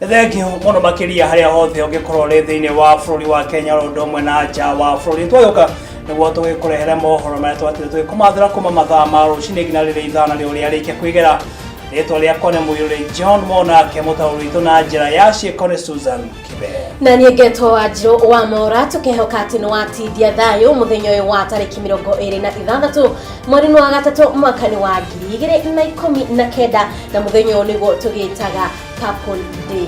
thengi muno makiria haria hothe ungikorwo ri thiini wa bururi wa Kenya ro ndo mwe na nja wa bururi twayoka niguo tugikurehere mohoro maria twatire tugikumathira kuma mathaa ma rucini nginya riria ithana riu riarikia kwigera rĩtwa rĩakwa nĩ mũiyũrĩ john monake mũtaũri witũ na njĩra ya ciĩko nĩ susan kibe na niĩ ngetwo wa njirũ wa mora tũkehoka atĩ nĩ watindia thayũ mũthenya ũyũ wa tarĩki mĩrongo ĩrĩ na ithathatũ mweri-inĩ wa gatatũ mwaka-inĩ wa ngiri igĩrĩ na ikũmi na kenda na mũthenya ũyũ nĩguo tũgĩtaga purple day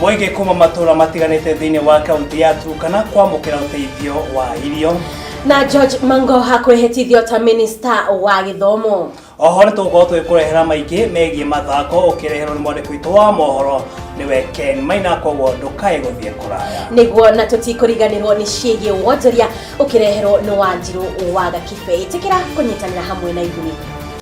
Mũingĩ kuma matũra matiganĩte thĩinĩ wa kaunti ya Turkana kwamũkĩra ũteithio wa irio. Na George Mangoha kwĩhĩtithio ta minista wa gĩthomo. Oho nĩ tũgũkorwo tũgĩkũrehera maingĩ megiĩ mathako ũkĩreherwo nĩ mwandĩki witũ wa mohoro nĩwe Ken Maina koguo ndũkae gũthiĩ kũraya. nĩguo na tũtikũriganĩrwo nĩ ciĩgiĩ wonjoria ũkĩreherwo nĩ wanjirũ wa gakibei tĩkĩra kũnyitanĩra hamwe na ithuĩ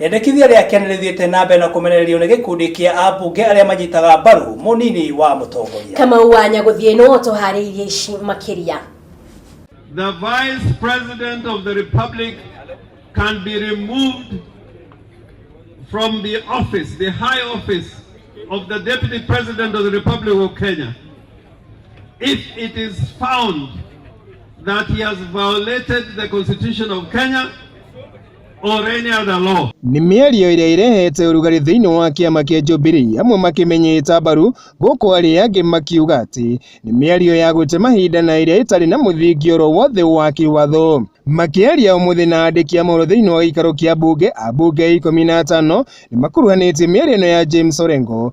Rĩendekithia rĩake nĩ rĩthiĩte na mbere na kũmenererio nĩ gĩkundi kĩa ambunge arĩa manyitaga mbaru mũnini wa mũtongoria. Kamau wa Nyagũthiĩ nĩwe ũtũharĩirie ici makĩria. The Vice President of the Republic can be removed from the office, the high office of the Deputy President of the Republic of Kenya if it is found that he has violated the Constitution of Kenya Nĩ mĩario ĩrĩa ĩrehete ũrugarĩ thĩinĩ wa kĩama kĩa Jubilee amwe makĩmĩnyita mbaru gũkũ arĩa angĩ makiuga atĩ nĩ mĩario ya gũte mahinda na ĩrĩa ĩtarĩ na mũthingi oro wothe wa kĩwatho. Makĩaria ũmũthĩ na andĩki a mohoro thĩinĩ wa gĩikaro kĩa mbunge, ambunge ikũmi na atano nĩ makuruhanĩtie mĩario-inĩ ya James Orengo,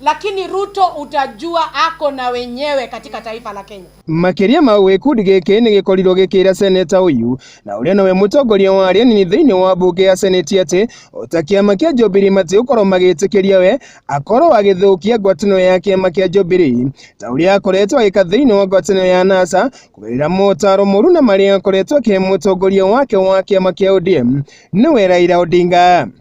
lakini Ruto utajua ako na wenyewe katika taifa la Kenya. Makiria mau gikundi giki ni gikorirwo gikira seneta uyu na uria nowe mutongoria wa aria nini thiini wa mbunge ya seneti ati ota kiama kia Jubilee mati ukorwo magitikiria we akorwo agithukia ngwataniro ya kiama kia Jubilee ta uria akoretwo agika thiini wa ngwataniro ya NASA kugerera motaro moru na maria akoretwo akihe mutongoria wake wa kiama kia ODM niwe Raila Odinga.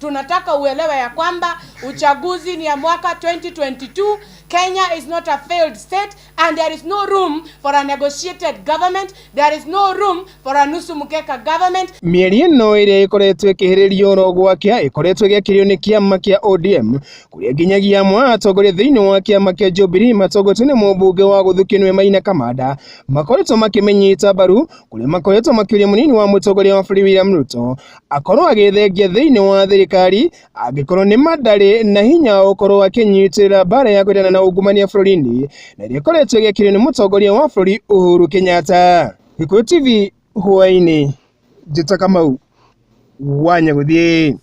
Tunataka uelewe ya kwamba uchaguzi ni ya mwaka 2022. Kenya is not a failed state and there is no room for a negotiated government. There is no room for a nusu mkeka government. Mĩeri ĩno ĩrĩa ĩkoretwo ĩkĩhĩrĩrio oro gwakĩa ĩkoretwo ĩgĩakĩrĩo nĩ kĩama kĩa ODM kũrĩa nginyagia amwe a atongoria thĩinĩ wa kĩama kĩa Jubilee matongoretio nĩ mũmbunge wa Gũthũ Kĩnũe Maina Kamanda makoretwo makĩmĩnyita mbaru kũrĩa makoretwo makĩũria mũnini wa mũtongoria wa bũrũri William Ruto akorwo agĩthengia thĩinĩ wa thirikari angĩkorwo nĩ mandarĩ na hinya wa gũkorwo akĩnyitĩrĩra mbara ya kwendana na ungumania bũrũri-inĩ na ĩrĩa ĩkoretwo ĩgĩkirio nĩ mũtongoria wa bũrũri Uhuru Kenyatta. Gĩkũyũ TV hwaĩ-inĩ, Njĩta Kamau, Wanyagũthiĩ.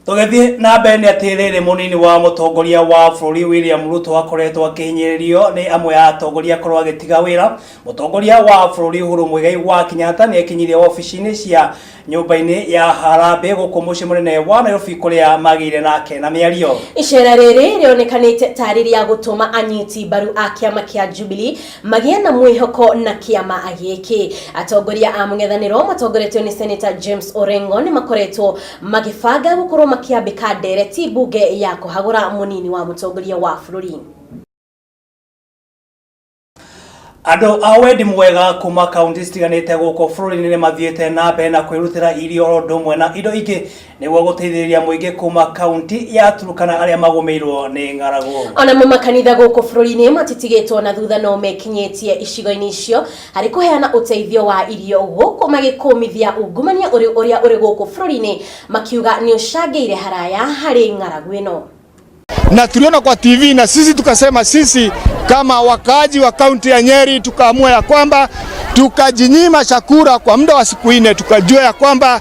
Tũgĩthiĩ na mbere nĩ atĩ rĩrĩ mũnini wa mũtongoria wa bũrũri William Ruto akoretwo akĩhinyĩrĩrio nĩ amwe ya atongoria akorwo agĩtiga wĩra. Mũtongoria wa bũrũri Uhuru Muigai wa Kenyatta nĩ ekinyirie wabici-inĩ cia nyũmba-inĩ ya Harambee gũkũ mũciĩ mũnene wa Nairobi kũrĩa magĩire nake na mĩario. Icera rĩrĩ rĩonekanĩte tarĩ rĩa gũtũma anyiti mbaru a kĩama kĩa Jubilee magĩe na mwĩhoko na kĩama gĩkĩ. Atongoria a mũng'ethanĩro matongoretio nĩ Seneta James Orengo nĩ makoretwo Magĩbanga gũkorwo makĩambĩka ndereti mbunge ya kũhagũra mũnini wa mũtongoria wa bũrũri. Andũ a wendi mwega kuma kaunti citiganĩte gũkũ bũrũri-inĩ nĩ mathiĩte na mbere na kwĩrutĩra irio oro ũndũ ũmwe na indo ingĩ nĩguo gũteithĩrĩria mũingĩ kuma kaunti ya Turkana arĩa magũmĩirwo nĩ ng'aragu. Onamo makanitha gũkũ bũrũri-inĩ matitigĩtwo na thutha no mekinyĩtie icigo-inĩ icio harĩ kũheana ũteithio wa irio gũkũ magĩkũmithia ungumania ũrĩ ũrĩa ũrĩ gũkũ bũrũri-inĩ makiuga nĩ ũcangĩire haraya harĩ ng'aragu ĩno. na tuliona kwa TV na sisi tukasema, sisi kama wakaaji wa kaunti ya Nyeri tukaamua ya kwamba tukajinyima chakula kwa muda wa siku nne, tukajua ya kwamba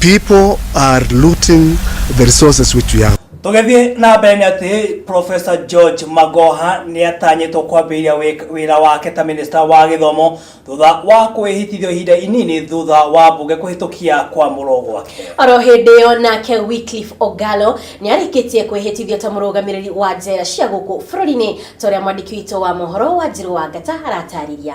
People are looting the resources which we have. tũgĩthiĩ na mbere nĩ atĩ profesa george magoha nĩ atanyĩtwo kwambĩrĩria wĩk- wĩra wake ta minista wa gĩthomo thutha wa kwĩhĩtithio ihinda inini thutha wa mbunge kũhĩtũkia kwamũrwo gwake oro hĩndĩ ĩyo nake wycliffe ogalo nĩ arĩkĩtie kwĩhĩtithio ta mũrũgamĩrĩri wa njera cia gũkũ bũrũri-inĩ ta ũrĩa mwandĩki witũ wa mohoro wa njirũ wa ngata aratarĩria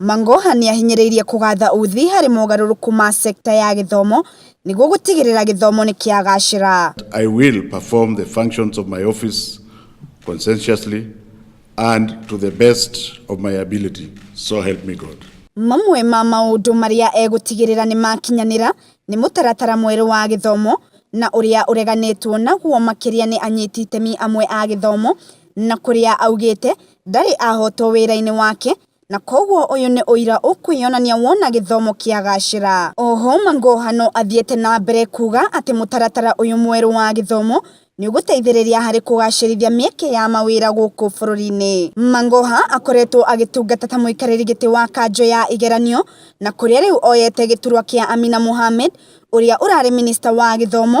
Mang'oha nĩahinyĩrĩirie kũgatha uthi harĩ mogarũrũku ma sector ya gĩthomo nĩguo gũtigĩrĩra gĩthomo nĩkĩagacĩra. I will perform the functions of my office conscientiously and to the best of my ability, so help me God. Mamwe ma maũndũ marĩa egũtigĩrĩra nĩmakinyanĩra nĩ mũtaratara mwerũ wa gĩthomo na ũrĩa ũreganĩtwo naguo makĩria nĩ anyiti itemi amwe a gĩthomo na kũrĩa augĩte ndarĩ ahotwo wĩra-inĩ wake Na kwoguo ũyũ nĩ ũira ũkwĩyonania wona gĩthomo kĩagacĩra. Oho Mangoha no athiĩte na mbere kuuga atĩ mũtaratara ũyũ mwerũ wa gĩthomo nĩũgũteithĩrĩria harĩ kũgacĩrithia mĩeke ya mawĩra gũkũ bũrũri-inĩ. Mangoha akoretwo agĩtungata ta mũikarĩri gĩtĩ wa kanjũ ya igeranio na kũrĩa rĩu oyete gĩturwa kĩa Amina Mohamed ũrĩa ũrarĩ minista wa gĩthomo,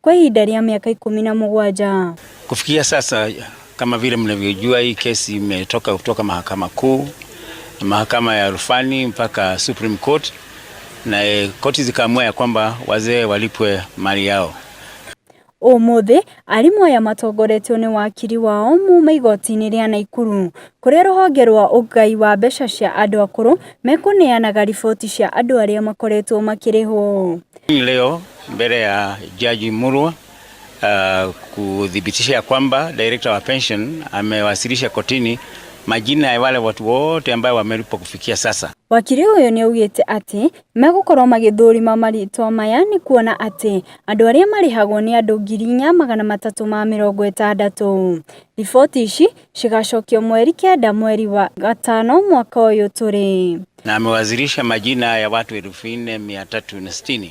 kwa ihinda rĩa mĩaka ikũmi na mũgwanja. Kufikia sasa kama vile mnavyojua, hii kesi imetoka kutoka mahakama kuu, mahakama ya rufani mpaka Supreme Court, na e, koti zikaamua ya kwamba wazee walipwe mali yao. Ũmũthĩ arimũ aya matongoretio nĩ wakiri wao muuma igoti-inĩ rĩa Naikuru kũrĩa rũhonge rwa ũgai wa mbeca cia andũ akũrũ mekũneanaga riboti cia andũ arĩa makoretwo makĩrĩhwo. Leo mbele ya Jaji Murwa uh, kuthibitisha ya kwamba director wa pension amewasilisha kotini majina ya wale watu wote ambayo wamelipwa kufikia sasa. Wakiri ũyũ nĩ augĩte atĩ megũkorwo magĩthũrima marĩtwa maya nĩ kuona atĩ andũ arĩa marĩhagwo nĩ andũ ngiri inya magana matatũ ma mĩrongo ĩtandatũ. Riboti ici cigacokio mweri kenda mweri wa gatano mwaka ũyũ tũrĩ. Na amewasilisha majina ya watu elfu nne mia tatu na sitini.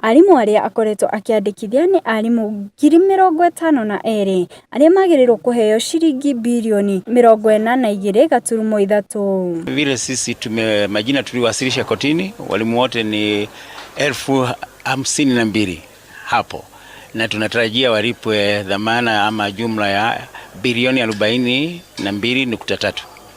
Arimũ arĩa akoretwo akĩandĩkithia nĩ arimũ ngiri mĩrongo ĩtano na erĩ arĩa magĩrĩirwo kũheo ciringi birioni mĩrongo ĩna na igĩrĩ gaturumo ithatũ. Vile sisi tume majina tuliwasilisha kotini, walimu wote ni elfu hamsini na mbili hapo, na tunatarajia walipwe dhamana ama jumla ya bilioni arobaini na mbili nukta tatu.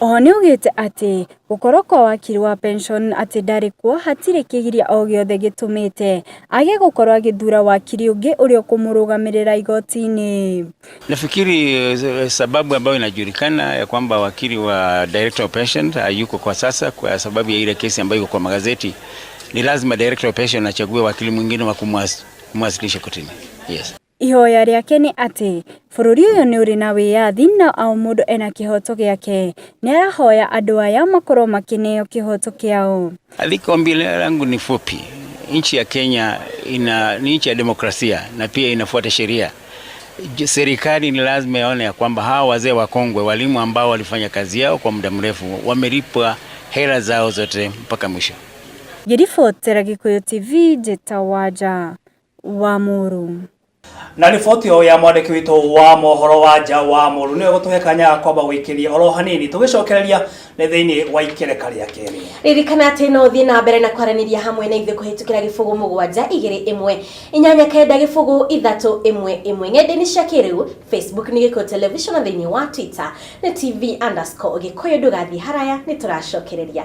Oho nĩaugĩte atĩ gũkorwo kwa wakiri wa pension atĩ ndarĩ kuo hatirĩ kĩgiria o gĩothe gĩtũmĩte age gũkorwo agĩthura wakiri ũngĩ ũrĩa ũkũmũrũgamĩrĩra igoti-inĩ. Nafikiri eh, sababu ambayo inajulikana ya kwamba wakili wa director of pension hayuko kwa sasa kwa sababu ya ile kesi ambayo iko kwa magazeti, ni lazima director of pension achague wakili mwingine wa kumwas- kumwasilisha kotini. Yes. Ihoya rĩake nĩ atĩ bũrũri ũyũ nĩ ũrĩ na wĩyathi na o mũndũ ena kĩhoto gĩake. Nĩarahoya andũ aya makorwo makĩneo kĩhoto kĩao. Aliko ombi langu ni fupi. Nchi ya Kenya ina ni nchi ya demokrasia na pia inafuata sheria. Serikali ni lazima yaone ya kwamba hawa wazee wakongwe, walimu ambao walifanya kazi yao kwa muda mrefu, wamelipwa hela zao zote mpaka mwisho. Ngĩribotera Gĩkũyũ TV, Jeta Wanja. wa mũrũ na riboti o ya mwandĩki witũ wa mohoro wa nja wa mũrũ nĩwe gũtũhe kanya kwamba gũikĩria oro hanini tũgĩcokereria nĩ thĩinĩ wa ikereka rĩa kerĩ ririkana atĩ no ũthiĩ na mbere na kwaranĩria hamwe na ithuĩ kũhĩtũkĩra gĩbũgũ mũgwanja igĩrĩ ĩmwe inyanya kenda gĩbũgũ ithatũ ĩmwe ĩmwe ng'enda-inĩ cia kĩrĩu facebook nĩ gĩkũyũ television na thĩinĩ wa twitter nĩ tv underscore gĩkũyũ ndũgathiĩ haraya nĩ tũracokereria